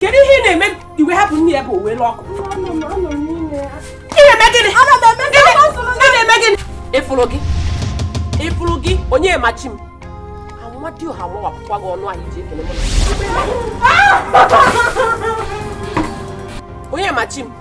kedu ihe ị na-eme iwe hapụ nne ya bụ uwe lụ ọkụ ị fụrụ gị ị fụrụ gị onye machi m amadioha mawapụkwa gị ọnụ ahụ i ji ekele onye machi m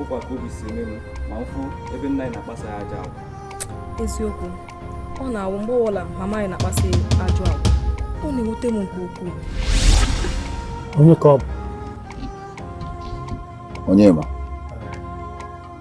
ọkwa ka obi si eme m ma m fụ ebe nna anyị na-akpasa ya ajọ agwa eziokwu ọ na-awụ mgbe ọbụla mama anyị na-akpasa ya ajọ agwa ọ na-ewute m nke ukwuu onye ka ọ bụ onye ma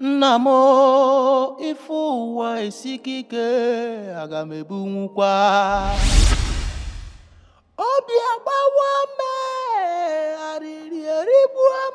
Nna m ife ụwa esika ike aga m ebunwukwa obi agbawa m ee arịrị erigbuo m